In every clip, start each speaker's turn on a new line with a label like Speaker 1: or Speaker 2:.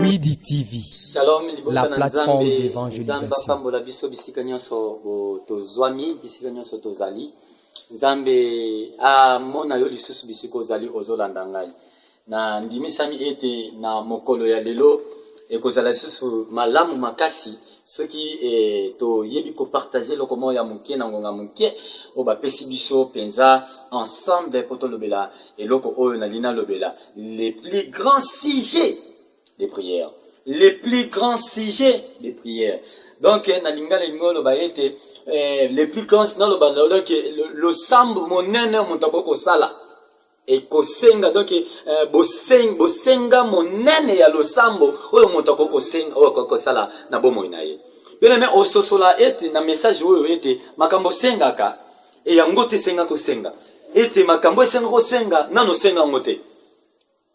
Speaker 1: Midi TV, Shalom, libota la na plateforme
Speaker 2: Nzambe, d'évangélisation. Nzambe apambola biso
Speaker 1: bisika nyonso bo- tozwami, bisika nyonso tozali. Nzambe amona yo lisusu bisika ozali, ozolanda ngai. Nandimisami ete na mokolo ya lelo, ekozala lisusu malamu makasi soki e, toyebi kopartage eloko moko ya moke na ngonga moke oyo bapesi biso mpenza ensemble mpo tolobela eloko oyo nalingi nalobela le plus grand sujet de prière le plus grand sujet de prière donc eh, na lingala elingi oloba ete eh, le plus grand naloba naloba ke losambo monene moto akoki kosala ekosenga donc eh, boseng, bosenga monene ya losambo oyo moto akoki kosenga oyo akoki kosala na bomoi na ye bino me ososola ete na message oyo ete makambo osengaka e yango te esenga kosenga ete makambo esenga kosenga nano osenga yango te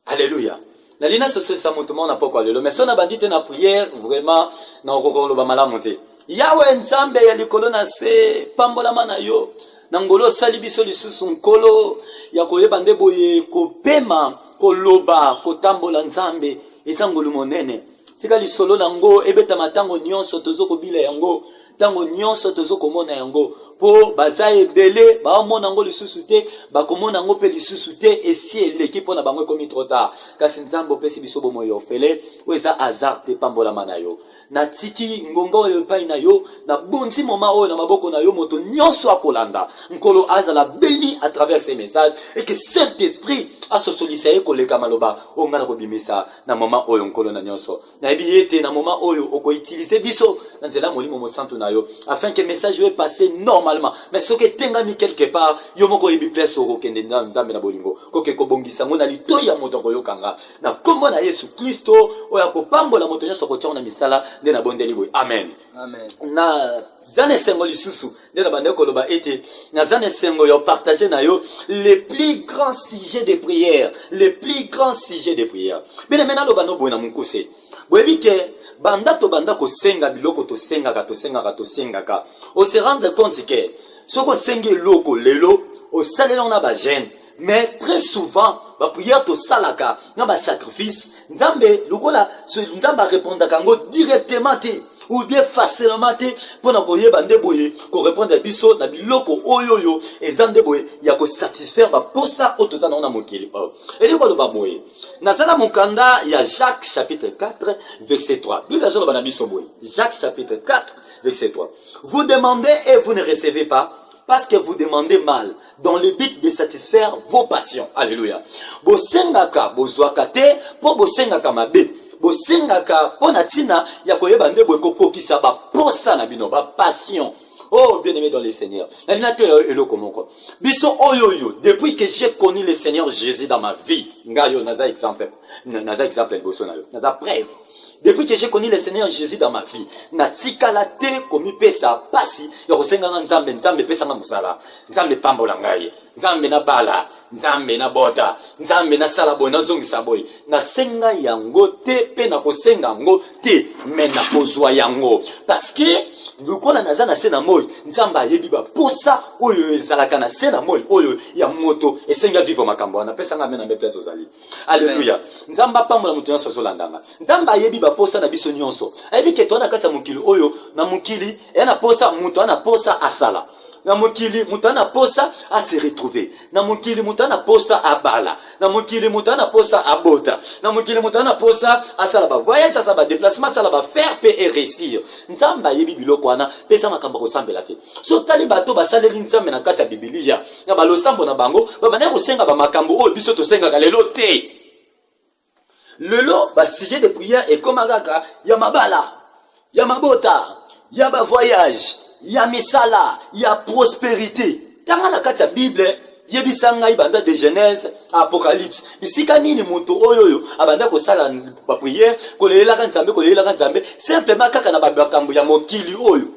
Speaker 1: aleluya nali nasosolisa moto moko na pokwa lelo me so nabandi te na priere vraiment nakokoka koloba malamu te yawe nzambe ya likolo na se pambolama na yo na ngolo osali biso lisusu nkolo ya koyeba nde boye kopema koloba kotambola nzambe eza ngolu monene tika lisolo na yango ebetama ntango nyonso tozo kobila yango ntango nyonso tozo komona yango mpo baza ebele baomona yango lisusu te bakomona yango mpe lisusu te esi eleki mpo na bango ekomi trop tard kasi nzambe opesi biso bomoi ya ofele oyo eza hasard te pambolama na yo natiki ngonga oyo epai na yo nabonzi moma oyo na maboko na yo moto nyonso akolanda nkolo azala beni à travers ce message et que saint esprit asosolisa ye koleka maloba oyo ngai nakobimisa na moma oyo nkolo na nyonso nayebi ye te na moment oyo okoutilize biso na nzela ya molimo mosantu na yo afin que message oyo epasse normalement mais soki etengami quelque part yo moko oyebi place okokende na nzambe na bolingo koke kobongisa yango na litoi ya moto akoyoka nga na nkombo na yesu klisto oyo akopambola moto nyonso akotiango na misala nde nabondeli boye amen, amen. na
Speaker 2: za
Speaker 1: na esengo lisusu nde na bandaki koloba ete naza na esengo ya partage na yo le plus grand sujet de prière le plus grand sujet de prière bino me naloba no boye na mokuse boyebi ke banda tobanda kosenga biloko tosengaka tosengaka tosengaka ose rendre compte ke soki osengi eloko lelo osaleli yango na bagene mais très souvent baprière tosalaka na basacrifice nzambe lokola nzambe arépondaka yango directement te ou bien facilement te mpo na koyeba nde boye korépondre ya biso na biloko oyo oyo eza nde boye ya kosatisfaire baposa oyo toza nango na mokili oyo elingi koloba boye naza na mokanda ya jacques chapitre 4 verset 3 bible azoloba na biso boye jacques chapitre 4 verset 3 vous demandez et vous ne recevez pas Parce que vous demandez mal, dans le but de satisfaire vos passions. Alléluia. Bosengaka, bozwaka te, po bosengaka mabe. Bosengaka po na tina ya koyeba nde boye kokokisa ba posa na bino, ba passion. Oh, bien-aimé dans le Seigneur. Na lina to ya eloko moko. Biso oyo yo, depuis que j'ai connu le Seigneur Jésus dans ma vie, nga yo naza exemple. naza exemple ya liboso na yo naza preuve depuis que j'ai connu le seigneur jésus dans ma vie natikala te komipesa mpasi ya kosenganga nzambe nzambe epesanga mosala nzambe epambola ngai nzambe nabala nzambe nabota nzambe nasala boye nazongisa boye nasenga yango te mpe nakosenga yango te me nakozwa yango parceke lokola naza na se na moi nzambe ayebi baposa oyo ezalaka na se na moi oyo ya moto esengi avivre makambo wana apesanga ame na mbe place ozali Alléluia. Nzambe apambola moto nyonso azolanda nga. Nzambe ayebi baposa na biso nyonso. Ayebi ke toa na kati ya mokili oyo na mokili ya na posa moto ana posa asala. Na mokili moto ana posa a se retrouver. Na mokili moto ana posa abala. Na mokili moto ana posa abota. Na mokili moto ana posa asala ba voyage asala ba déplacement asala ba faire pe et réussir. Nzambe ayebi biloko wana pe eza makambo kosambela te. So tali bato basaleli Nzambe na kati ya Biblia. na balosambo na bango babandaki kosenga bamakambo oyo biso tosengaka lelo te lelo basujet de prière ekóma kaka ya mabala ya mabota ya bavoyage ya misala ya prosperité tanga na kati ya bible yebisa ngai banda de genèse apocalypse bisika nini moto oyo oyo abanda kosala bapriere kolelelaka nzambe kolelelaka nzambe simplement kaka na bamakambo ya mokili oyo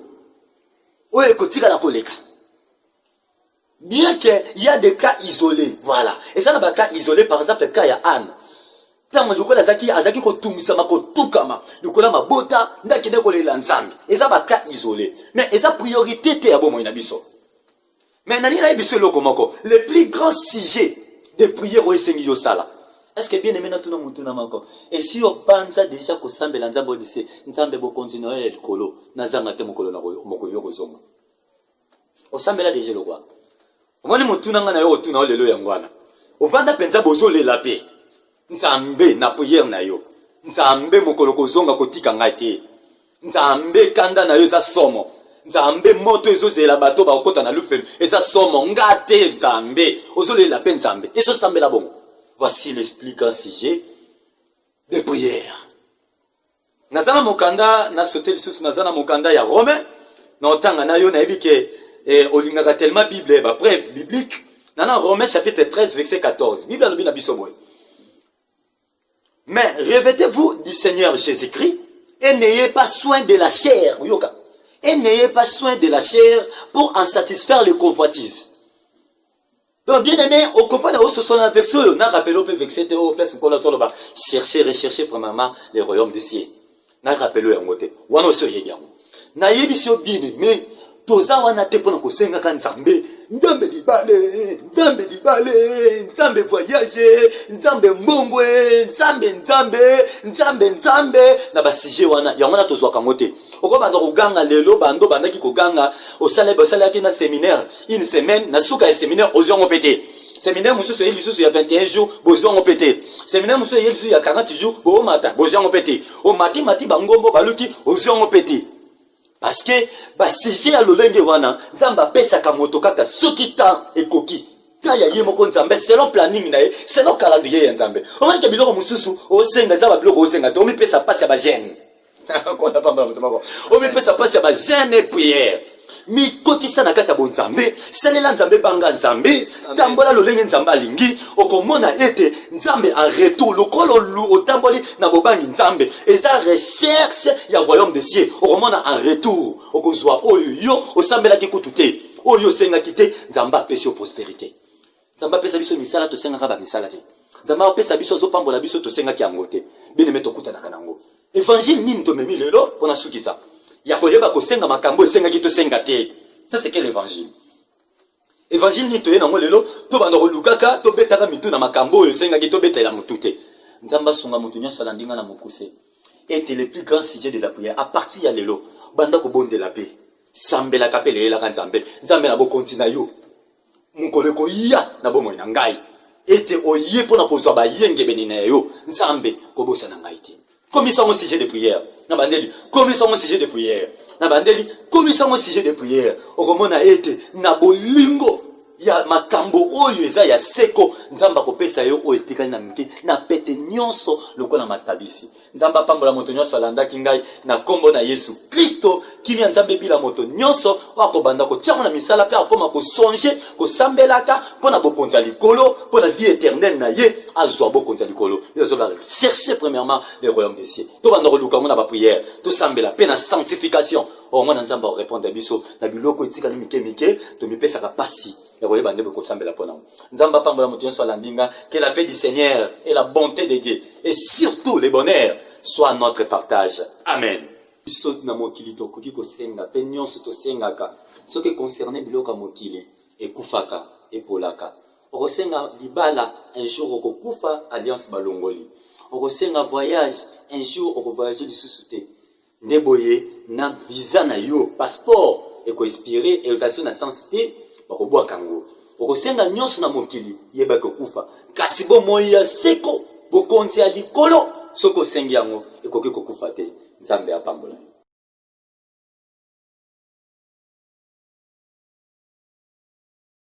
Speaker 1: oyo ekotikala koleka bien que il y a des cas isolés voilà eza na ba cas isolés par exemple cas ya Anne ntango lokola azalaki azalaki kotungisama kotukama lokola mabota nde akende kolela nzambe eza ba cas isolés mais eza priorité te ya bomoi na biso mais nalingi nayebi biso eloko moko le plus grand sujet de prière oyo esengi yo osala est ce que bien aimé natuna motu na moko esi obanza deja kosambela nzambe oyebi se nzambe bokonzi na yo ya likolo nazanga te mokolo na mokolo yo kozonga osambela deja eloko wana omoni motuna ngai na yo otuna yo lelo yango wana ovanda mpenza bozolela mpe nzambe na priere na yo nzambe mokolo kozonga kotika ngai te nzambe kanda na yo eza somo nzambe moto ezozela bato bakokota na lufelo eza somo nga te nzambe ozolela mpe nzambe ezosambela bongo voici le plus grand sujet de prière naza na mokanda na sote lisusu naza na mokanda ya rome na otanga na yo nayebi ke eh, olingaka tellement bible ba preuve biblique na na rome chapitre 13 verset 14 bible alobi na biso boye mais revêtez-vous du seigneur jésus-christ et n'ayez pas soin de la chair oyoka et n'ayez pas soin de la chair pour en satisfaire les convoitises Donc bien aimé, au copain de ce son avec ce, n'a rappelé au peu vexé, au oh, place qu'on a sur le bas, chercher, rechercher premièrement les royaumes du ciel. N'a rappelé au côté. Ou alors ce yé bien. N'a yé bisio bien aimé, toza wana te pona kosengaka nzambe nzambe libale nzambe libale nzambe voyage nzambe mbongwe nzambe nzambe nzambe nzambe na basujet wana yango wana tozwaka yango te okobanda koganga lelo bando bandaki koganga osalaki na seminaire une semaine na suka ya seminaire ozwi yango mpe te seminaire mosusu eye lisusu ya 21 jours bozwi yango mpe te seminaire mosusu eye lisusu ya 40 jours boomata bozwi yango mpe te omati mati bangombo baluki ozwi yango mpe te parce que basujet ya lolenge wana nzambe apesaka moto kaka soki temps ekoki ta ya ye moko nzambe selon planning na ye selon calendrier ya nzambe omanike biloko mosusu osenga eza babiloko osenga te omipesa mpasi ya bagene kona pamba na moto moko omipesa mpasi ya bazene priere mikotisa na kati ya bonzambe salela nzambe banga nzambe tambola lolenge nzambe alingi okomona ete nzambe en retour lokola otamboli na bobangi nzambe eza recherche ya royaume de cieux okomona en retour okozwa oyo yo osambelaki kutu te oyo osengaki te nzambe apesi yo prosperité Nzambe apesa biso misala, tosengaka ba misala te. Nzambe apesa biso, azopambola biso, tosengaki yango te. Bene me tokutanaka na yango. Evangile nini tomemi lelo pona sukisa? Ya koyeba kosenga makambo esengaki tosenga te. Ça c'est quel évangile? Evangile nini toye nango lelo tobanda kolukaka tobetaka mitu na makambo oyo esengaki tobetela motu te. Nzambe asunga motu nyonso alandi nga na mokuse. Ete le plus grand sujet de la prière à partir ya lelo banda kobondela pe sambelaka pe leyelaka Nzambe. Nzambe na bokonzi na yo mokolo ekoya na bomoi na ngai ete oye mpo na kozwa bayengebene na yo nzambe kobosana ngai te komisa yango sujet de prière na bandeli komisa yango sujet de prière na bandeli komisa yango sujet de prière okomona ete na bolingo ya makambo oyo eza ya seko nzambe akopesa yo oyo etikali na mike na pete nyonso lokola matabisi Nzambe apambola moto nyonso alandaki ngai na nkombo na Yesu Klisto. Kimia Nzambe ebila moto nyonso oyo akobanda kotiango na misala mpe akoma kosonge kosambelaka mpo na bokonzi ya likolo mpo na vie eternelle na ye azwa bokonzi ya likolo nde azobaka cherche premièrement le royaume des cieux tobanda koluka yango na baprière tosambela mpe na sanctification oyo oh, mwana Nzambe akorepondre biso na biloko etikali mike mike tomipesaka mpasi ya koyeba nde bokosambela mpo nango nzambe apambola moto nyonso alandi nga que la paix du seigneur et la bonté de dieu et surtout le bonheur soit notre partage amen biso na mokili tokoki kosenga mpe nyonso tosengaka soki econcerne biloko ya mokili ekufaka epolaka okosenga libala un jour okokufa alliance balongoli okosenga voyage un jour okovoyage lisusu te Nde boye na visa na yo, passeport eko expire et ozalaki na sens te, bakobwaka yango. Okosenga nyonso na mokili, yeba ekokufa. Kasi bomoi ya seko, bokonzi ya likolo, soki osengi yango, ekoki kokufa te. Nzambe apambola yo.